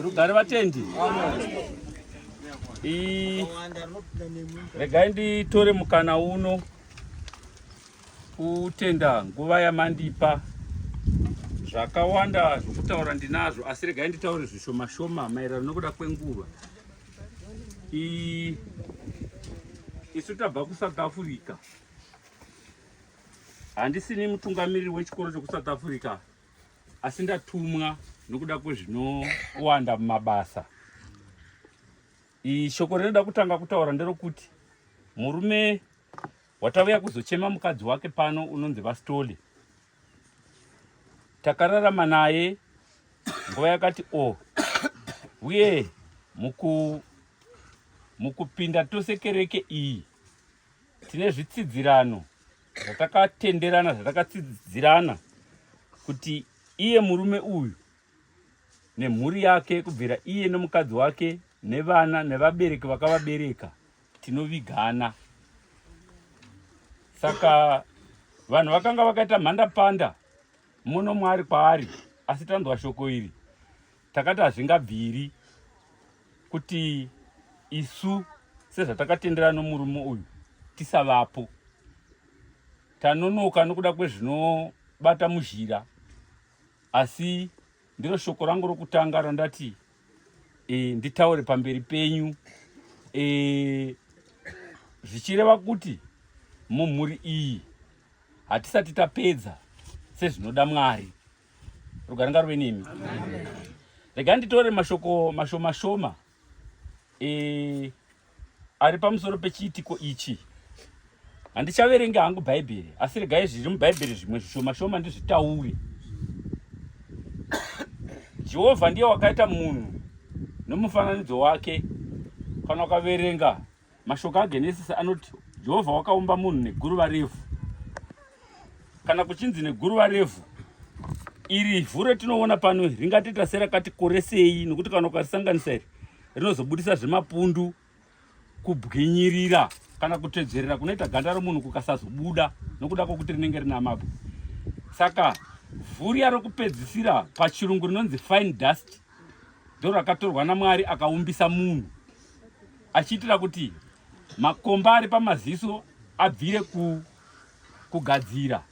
rugare vatendi regai nditore mukana uno kutenda nguva yamandipa zvakawanda zvokutaura ndinazvo asi regai nditaure zvishoma shoma maererano nokuda kwenguva isu tabva kusouth africa handisini mutungamiriri wechikoro chekusouth africa asi ndatumwa nokuda kwezvinowanda mumabasa shoko rinoda kutanga kutaura nderokuti murume watauya kuzochema mukadzi wake pano unonzi vastoli takararama naye nguva yakati o oh, uye muku mukupinda tose kereke iyi tine zvitsidzirano zvatakatenderana zvatakatsidzirana kuti iye murume uyu nemhuri yake kubvira iye nomukadzi wake nevana nevabereki vakavabereka tinovigana saka vanhu vakanga vakaita mhandapanda muno mwaari kwaari asi tanzwa shoko iri takati hazvingabviri kuti isu sezvatakatendera nomurume uyu tisavapo tanonoka nokuda kwezvinobata muzhira asi ndiro shoko rangu rokutanga randati e, nditaure pamberi penyu e, zvichireva kuti mumhuri iyi hatisati tapedza sezvinoda mwari rugare ngaruve nemi rega nditore mashoko mashoma shoma e, ari pamusoro pechiitiko ichi handichaverenga hangu bhaibheri asi regai zviri mubhaibheri zvimwe zvishoma shoma ndizvitaure jehovha ndiye wakaita munhu nomufananidzo wake kana ukaverenga Mashoko aGenesisi anoti Jehovha wakaumba munhu neguruva revhu. Kana kuchinzi neguruva revhu, iri vhu retinoona pano ringatoita serakati koresei, nokuti kana ukarisanganisa iri rinozobudisa zvemapundu, kubwinyirira kana kutedzerera kunoita ganda romunhu kukasazobuda nokuda kwokuti rinenge rina mabwe. Saka vhu riya rokupedzisira pachirungu rinonzi fine dust ndorakatorwa naMwari akaumbisa munhu achiitira kuti makomba ari pamaziso abvire ku, kugadzira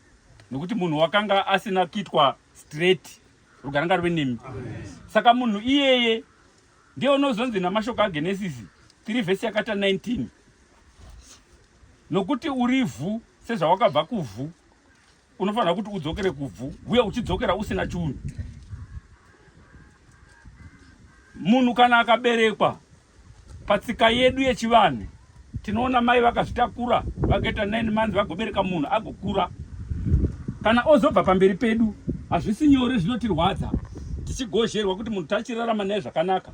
nokuti munhu wakanga asina kuitwa straight rugare ngaruve nemi saka munhu iyeye ndiye unozonzi namashoko agenesisi 3 vhesi yakata 19 nokuti uri vhu sezvawakabva kuvhu unofanira kuti udzokere kubvu uye uchidzokera usina chunhu munhu kana akaberekwa patsika yedu yechivanhu tinoona mai vakazvitakura vakaita 9 months vagobereka munhu agokura kana ozobva pamberi pedu hazvisi nyore zvinotirwadza tichigozherwa kuti munhu tachirarama naye zvakanaka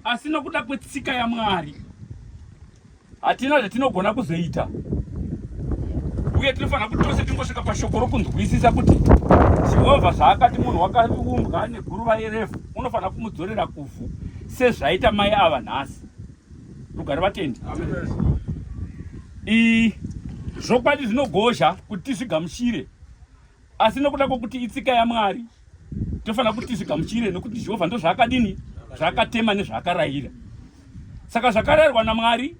asi nokuda kwetsika yamwari Hatina zvatinogona kuzoita uye tinofanira kuti tose tingosvika pashoko rokunzwisisa kuti jehovha zvaakati munhu wakaumbwa neguruva yerefu unofanira kumudzorera kuvhu sezvaita mai ava nhasi rugare vatendi zvokwadi zvinogozha kuti tizvigamuchire asi nokuda kwokuti itsika yamwari Tofanira kuti zvigamuchire nokuti Jehovha ndozvaakadini zvaakatema nezvaakarayira. Saka zvakarayirwa naMwari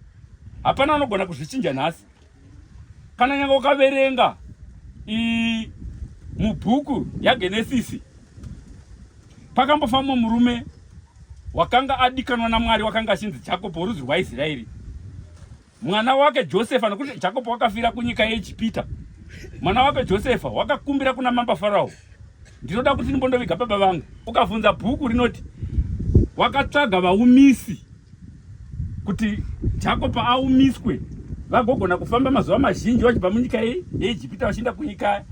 hapana anogona kuzvichinja nhasi. Kana nyanga ukaverenga mubhuku yaGenesisi pakambofamba murume wakanga adikanwa naMwari wakanga achinzi Jakobo worudzi rwaIsraeri. mwana wake Josefa, nokuti Jakobo wakafira kunyika yeEgipita, mwana wake Josefa wakakumbira kuna mamba Farao, ndinoda kuti ndimbondoviga baba vangu. Ukavhunza bhuku rinoti wakatsvaga vaumisi kuti Jakobo aumiswe vagogona kufamba mazuva mazhinji vachibva munyika yeEgipita vachienda kunyika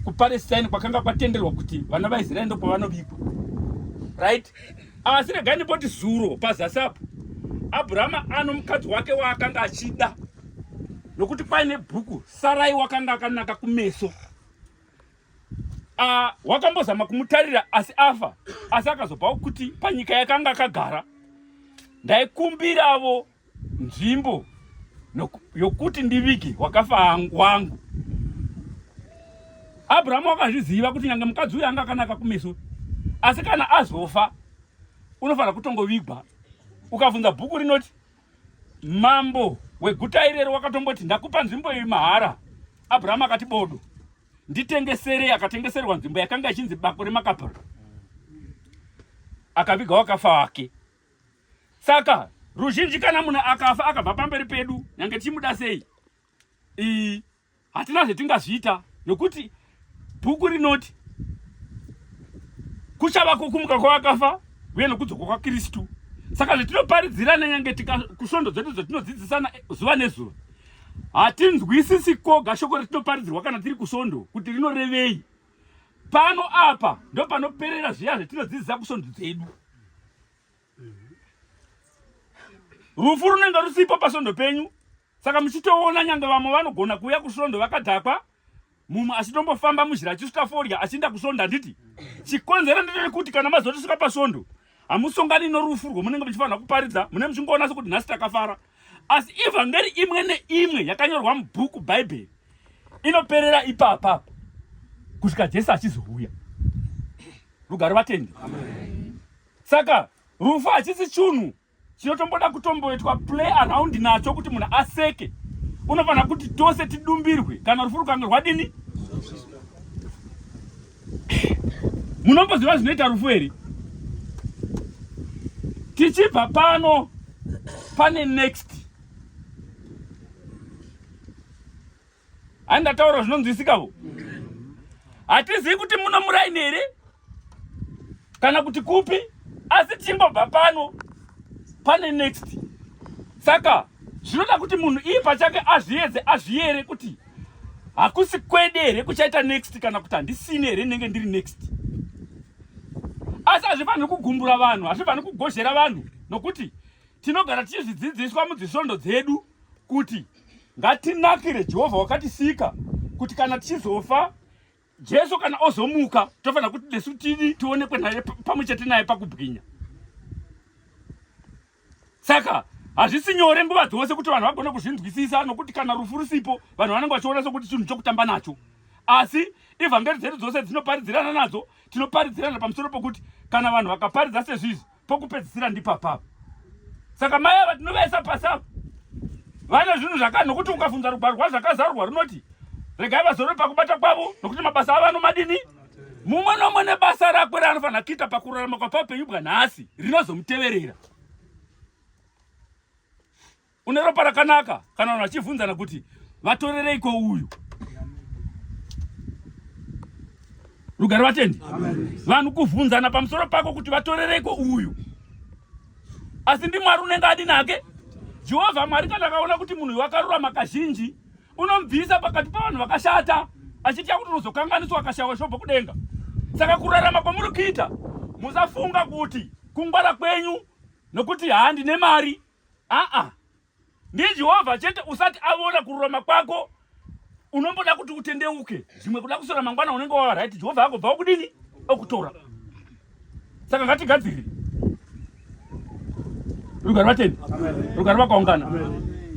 kuPalestine kwakanga kwatenderwa kuti vana vaIsraeri ndokwavanovigwa right asi regai ndimboti zuro pazasi apo abrahama ano mukadzi wake waakanga achida nokuti paine bhuku sarai wakanga akanaka kumeso ah, wakambozama kumutarira asi afa asi akazopawo kuti panyika yakanga akagara ndaikumbiravo nzvimbo yokuti ndivige wakafa wangu. Abrahamu akazviziva kuti nyange mukadzi uyu anga akanaka kumeso, asi kana azofa unofanira kutongovigwa. Ukavhunza bhuku rinoti mambo weguta irero wakatomboti ndakupa nzvimbo iyi mahara, Abrahamu akati bodo nditengesere. Akatengeserwa nzvimbo yakanga ichinzi bako reMakapera, akaviga wakafa wake. saka ruzhinji kana munhu akafa akabva pamberi pedu nyange tichimuda sei ii hatina zvetingazviita nokuti bhuku rinoti kuchava kukumuka kwavakafa uye nokudzoka kwakristu saka zvetinoparidzirana nyange kusvondo dzedu dzetinodzidzisana zuva nezuva hatinzwisisi koga shoko retinoparidzirwa kana tiri kusvondo kuti rinorevei pano apa ndopanoperera zviya zvetinodzidzisa kusvondo dzedu rufu runenge rusipo pasvondo penyu saka muchitoona nyange vamwe vanogona kuuya kusvondo vakadhakwa mumwe achitombofamba muzhira achisvika forya achiinda kusvondo handiti chikonzero ndeterekuti kana mazotisvika pasvondo hamusongani norufu rwomunenge muchifanira kuparidza mune muchingoona sekuti nhasi takafara asi evhangeri imwe neimwe yakanyorwa mubhuku bhaibheri inoperera ipapa kusvika jesu achizouya rugare vatendi saka rufu hachisi chunhu chinotomboda kutomboitwa play around nacho kuti munhu aseke unofanira kuti tose tidumbirwe kana rufu rukange rwadini munomboziva zvinoita rufu here tichibva pano pane next Ani ndataura zvinonzwisika vo. Hatizivi kuti muno muraini here kana kuti kupi asi tichingobva pano pane next. Saka zvinoda kuti munhu iye pachake azviedze azviyere kuti hakusi kwede here kuchaita next kana kuti handisine here ndinenge ndiri next asi hazvifaniri kugumbura vanhu hazvifaniri kugozhera vanhu nokuti Tinogara tichizvidzidziswa mudzisvondo dzedu kuti ngatinakire Jehovha wakatisika kuti kana tichizofa Jesu kana ozomuka tofanira kuti nesu tidi tionekwe naye pamwe chete naye pakubwinya. Saka hazvisi nyore nguva dzose kuti vanhu vagone kuzvinzwisisa nokuti kana rufu rusipo vanhu vanenge vachiona sokuti chinhu chokutamba nacho. Asi ivhangeri dzedu dzose dzinoparidzirana nadzo tinoparidzirana pamusoro pokuti kana vanhu vakaparidza sezvizvi pokupedzisira ndipapapa saka mai ava tinovaisa pasi apa vane zvinhu zvaka nokuti ukafunza rugwaro rwazvakazarurwa runoti regai vazorore pakubata kwavo nokuti mabasa avo anomadini mumwe nomwe nebasa rakwe raanofanira kuita pakurarama kwapaupenyu bwanhasi rinozomuteverera Une ropa rakanaka kana vanhu vachivhunzana kuti vatorereiko uyu. Rugare vatendi. Vanhu kuvhunzana pamusoro pako kuti vatorereiko uyu. Asi ndi Mwari unenge adi nake. Jehovha Mwari kana akaona kuti munhu wakarurama kazhinji unomubvisa pakati pavanhu vakashata achitya kuti unozokanganiswa akashawa shobho kudenga. Saka kurarama kwamuri kuita musafunga kuti kungwara kwenyu nokuti handi nemari aa ndijehovha chete usati avona kururama kwako unomboda kuti utendeuke zvimwe kuda kusora mangwana unenge wava right jehovha agobva okudini okutora saka ngatigadziri rugari vateni rugari vakaungana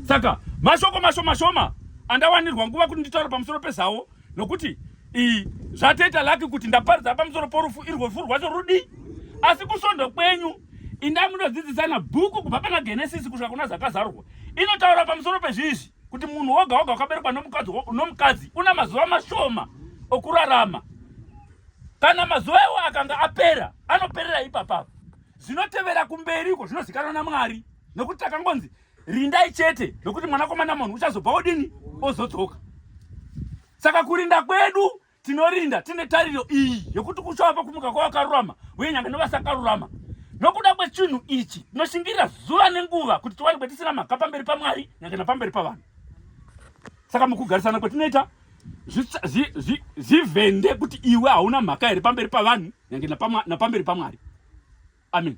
saka mashoko mashoma shoma andawanirwa nguva kuti nditaura pamusoro pezavo nokuti iyi zvatoita laki kuti ndaparidza pamusoro porufu irwofu rwacho rudi asi kusvondo kwenyu inda munodzidzisana bhuku kubva pana genesisi kusvika kuna zakazarurwa inotaura pamusoro pezvizvi kuti munhu woga woga wakaberekwa nomukadzi una mazuva mashoma okurarama kana mazuva iwo akanga apera anoperera ipapapa zvinotevera kumberi uko zvinozikanwa namwari nokuti takangonzi rindai chete nokuti mwanakomana munhu uchazobva odini ozodzoka saka kurinda kwedu tinorinda tine tariro iyi yokuti kuchava kumuka kwavakarurama uye nyange novasakarurama nokuda kwechinhu ichi tinoshingirira zuva nenguva kuti tiwanikwe tisina mhaka pamberi pamwari nyange napamberi pavanhu saka mukugarisana kwatinoita zvivhende kuti iwe hauna mhaka here pamberi pavanhu nyange napamberi pamwari amen